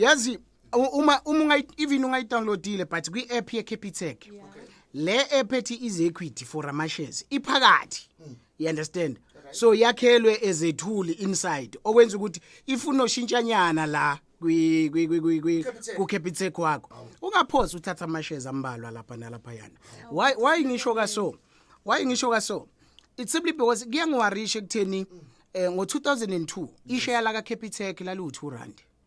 yazi uma uma even ungayidownloadile but kwi-app ye-capitec yeah. le app ethi is equity for amashares iphakathi mm. you understand so yakhelwe ezethuli inside okwenza ukuthi ifuna oshintshanyana la kwi kwi kwi kwi ku capitec wakho ungaphosi uthatha amashares ambalwa lapha nalapha yana why why ngisho ka so why ngisho ka so it's simply because kuyangiwarisha ekutheni eh ngo 2002 isheya la ka capitec lali u 2 rand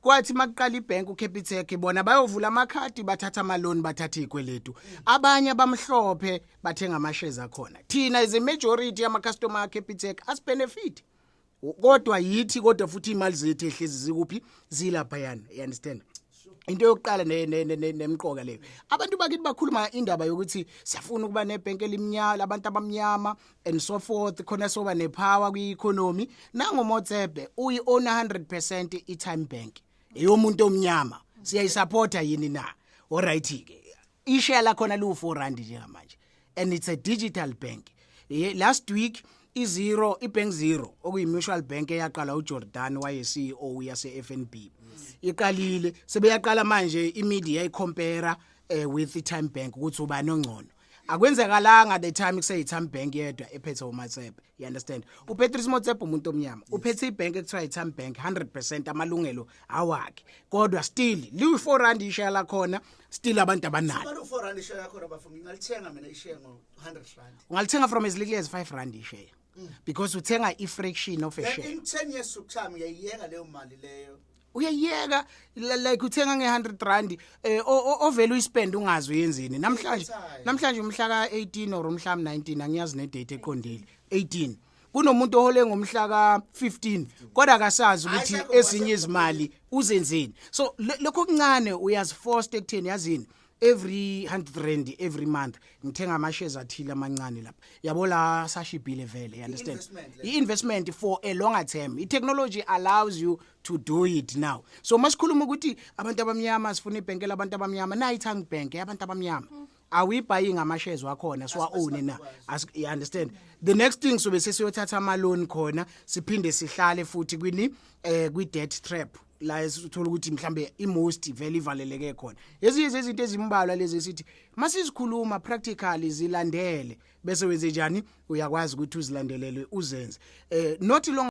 kwathi makuqala ibank uCapitec bona bayovula amakhadi bathatha amaloni bathatha izikweletu abanye abamhlophe bathenga amashares akhona thina is a majority yama customer ka Capitec as benefit kodwa yithi kodwa futhi imali zethu ehlezi zikuphi zilapha yana you understand into yokuqala nemqoka leyo abantu bakithi bakhuluma indaba yokuthi siyafuna ukuba nebhenki elimnyama abantu abamnyama and so forth khona soba nepower kwi-economy nangomotsebe uyi-owna 100 i-time bank eyomuntu omnyama siyayisapota yini na oright-ke isheya lakhona liwu-four rand njengamanje and it's a digital bank last week izero ibank zero okuyi-mutual bank eyaqala ujordan waye-ceo yase-f n b iqalile sebeyaqala manje imedia ikhompera um eh, with i-time bank ukuthi ubani ongcono akwenzekalanga the time kuseyitham bank yedwa ephethe umatsebe you understand upatrice motsebe umuntu omnyama uphethe ibhank ekuthiwa yitham bank 100 percent amalungelo awakhe kodwa still liwu-four rand isheya lakhona still abantu abanalo ungalithenga from as little as five rand isheya mm. because uthenga i-fraction of a share in 10 years to come uyayiyeka leyo mali leyo uyayeka like uthenga nge-100 rand eh, um ovele uyispend ungazi uyenzeni namhlanje namhlanje umhla ka-18 or umhla m-19 angiyazi nedate eqondile 18 kunomuntu ohole ngomhla ka-15 kodwa akasazi ukuthi ezinye izimali uzenzeni so lokho kuncane uyazifosta ekutheni yazini every 100 rand every month ngithenga ama shares athile amancane lapha yabo la sashibhile vele you understand i investment for a longer term i technology allows you to do it now so masikhuluma ukuthi abantu abamnyama sifuna ibhenkela abantu abamnyama nayi thang bank abantu abamnyama mm. awuyibhayi ngama shares wakhona siwa own na you understand mm. the next thing sobe sesiyothatha ama loan khona siphinde sihlale futhi kwini eh kwi debt trap la esithola ukuthi mhlambe imost vele ivaleleke khona ezinye zezinto ezimbalwa lezi esithi masizikhuluma practically zilandele bese wenze njani uyakwazi ukuthi uzilandelele uzenze eh not long